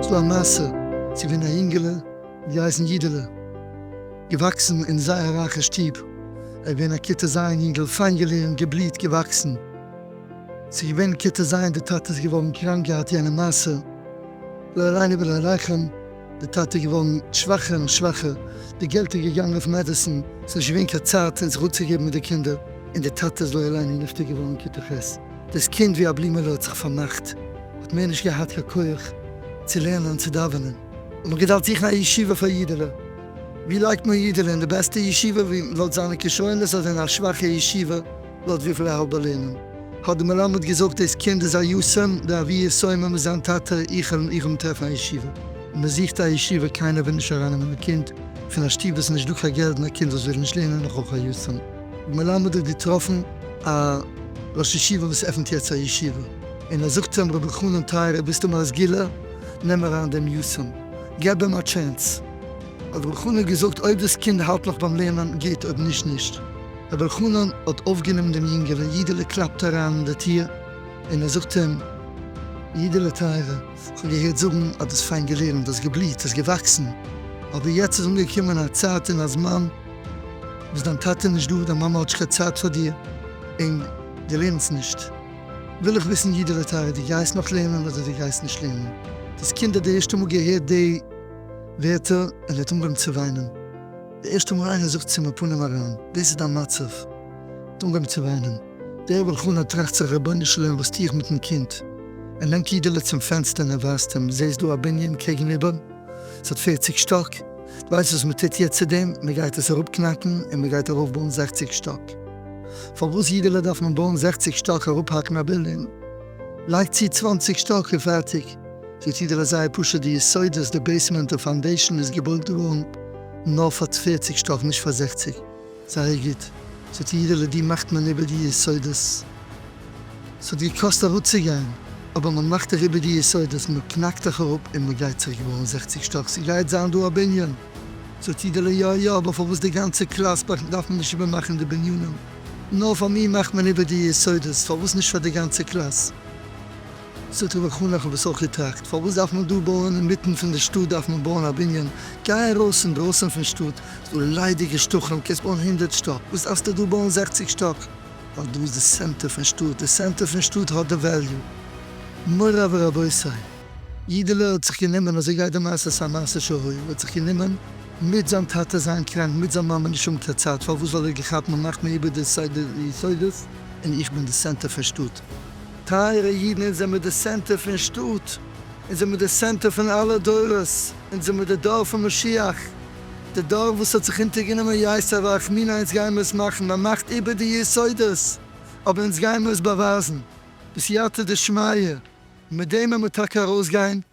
ס'דא א מעשה צו פון א יונגעלע געהייסן יודעלע, געוואקסן אין זייער רייכע שטוב, ער געווען א כיתה ז' יונגעל פיין געלערנט געבליהט געוואקסן, ס'איז געווען כ ט זיון, די טאטע איז געווארן קראנק געהאט יענע מעשה, לא עלינו ולא עליכם, די טאטע איז געווארן שוואכער און שוואכער, די געלט איז געגאנגען אויף מעדעסין, ס'איז נישט געווען קיין צייט פון זיך אפצוגעבן מיט די קינדער, און די טאטע איז לא עלינו נפטר געווארן כ ט ח', דאס קינד ווי א בלימעלע האט זיך פארמאכט, האט מער נישט געהאט קיין כח צו לערנען און צו דאווענען. האט מען געדארפט זוכן א ישיבה פאר אידעלע, ווי לייגט מען אידעלע, אין די בעסטע ישיבה, ווי לויט זיינע כשרונות אדער אין א שוואכע ישיבה, לויט וויפיל איך האב באלערנען האט די מלמד געזאגט דאס קינד איז א יסעם די אבי יסעימער מיט זיין טאטע איך העל איך אים טרעפן א ישיבה און מען זוכט א ישיבה קיינער וויל נישט אריינעמען א קינד פון א שטוב וואס איז נישט דא קיין געלט און א קינד וואס וויל נישט לערנען נאך אויך א יסעם די מלמד האט געטראפן א ראש ישיבה וואס עפענט יעצט א ישיבה און ער זאגט אים ר' אלחנן טייערער ביסטו מרזגילע נעם אריין דעם יסעם געב אים א טשענס האט ר' אלחנן געזאגט אויב דאס קינד האלט נאך ביים לערנען גוט אויב נישט נישט. ר' אלחנן האט אויפגענומען דעם יונגערן, יודעלע קלאפט אריין אין די טיר, און ער זאגט אים, יודעלע טייערע, כ'האב געהערט זאגן אז דו האסט פיין געלערנט, האסט געבליהט, האסט געוואקסן, אבער יעצט איז אנגעקומען א צייט און א זמן וואס דיין טאטע איז נישט דא, דיין מאמע האט נישט קיין צייט פאר דיר, און דו לערנסט נישט. וויל איך וויסן יודעלע טייערע, דו גייסט נאך לערנען אדער דו גייסט נישט לערנען? דאס קינד האט די ערשטע מאל געהערט די ווערטער און ער האט אנגעהויבן צו וויינען. די ערשטע מאל איינער זאגט צו מיר פנים אריין דאס איז דיין מצב, האט אנגעהויבן צו וויינען. דער בעל חנה טראכט זיך רבונו של עולם וואס טו איך מיטן קינד? ער נעמט אידעלע צום פענסטער און ער ווייזט אים, זעסט דא א בנין קעגן איבער? ס'האט פערציג שטאק, דו ווייסט וואס מען טוט יעצט צו דעם? מען גייט עס אראפ קנאקן און מען גייט ארויף בויען זעכציג שטאק. פארוואס אידעלע דארף מען בויען זעכציג שטאק? אראפהאקן א בילדינג? לייג צו צוואנציג שטאק און פערטיג. די סידור איז זייער פשוט, די יסודות, די בעיסמענט און פאונדעישאן איז געבויט געווארן נאר פאר פֿערציק שטאק נישט פאר זעכציק, זייער גוט, ס'האט די אידעלע די מאכט מען איבער די יסודות, ס'האט געקאסט אראפצוגיין אבער מען מאכט דיך איבער די יסודות, מען קנאקט דיך אראפ און מען גייט זיך געווארן זעכציק שטאק, ס'גייט זיין דא א בנין, זאגט אידעלע יא יא אבער פארוואס די גאנצע קלאס בארג דארף מען נישט איבער מאכן די בנינים, נאר פאר מיר מאכט מען איבער די יסודות, פארוואס נישט פאר די גאנצע קלאס? ס'טוט מיך אן לאכן וואס אויך איר טראגט, פארוואס דארף מען דא בויען אינמיטן פון די שטאט דארף מען בויען א בנין, גיי ארויס אינדרויסן פון שטאט ס'דא ליידיגע שטחים קענסט בויען הונדערט שטאק, וואס דארפסטו דא בויען זעכציג שטאק, ווייל דא איז די סענטער פון שטאט, די סענטער פון שטאט האט די וועליו, מוריי ורבותי. אידעלע האט זיך גענומען, אזוי גייט די מעשה ס'איז א מעשה שהיה, האט זיך גענומען מיט זיין טאטע זיין קראנק מיט זיין מאמע נישט האבן קיין צייט, פארוואס ווייל ער האט געכאפט מ'מאכט מיר איבער די סדר יסודות און איך בין די סענטער פון שטאט, טייערע אידן אונז זעמיר די סענטער פון שטאט, אונז זעמיר די סענטער פון אלע דורות, אונז זעמיר די דור פון משיח, די דור וואס האט זיך אונטערגענומען יסר ואכמינא אונז גיימיר עס מאכן מען מאכט איבער די יסודות אבער אונז גיימיר עס באווייזן בסייעתא דשמיא און מיט דעם וועמער טאקע ארויסגיין.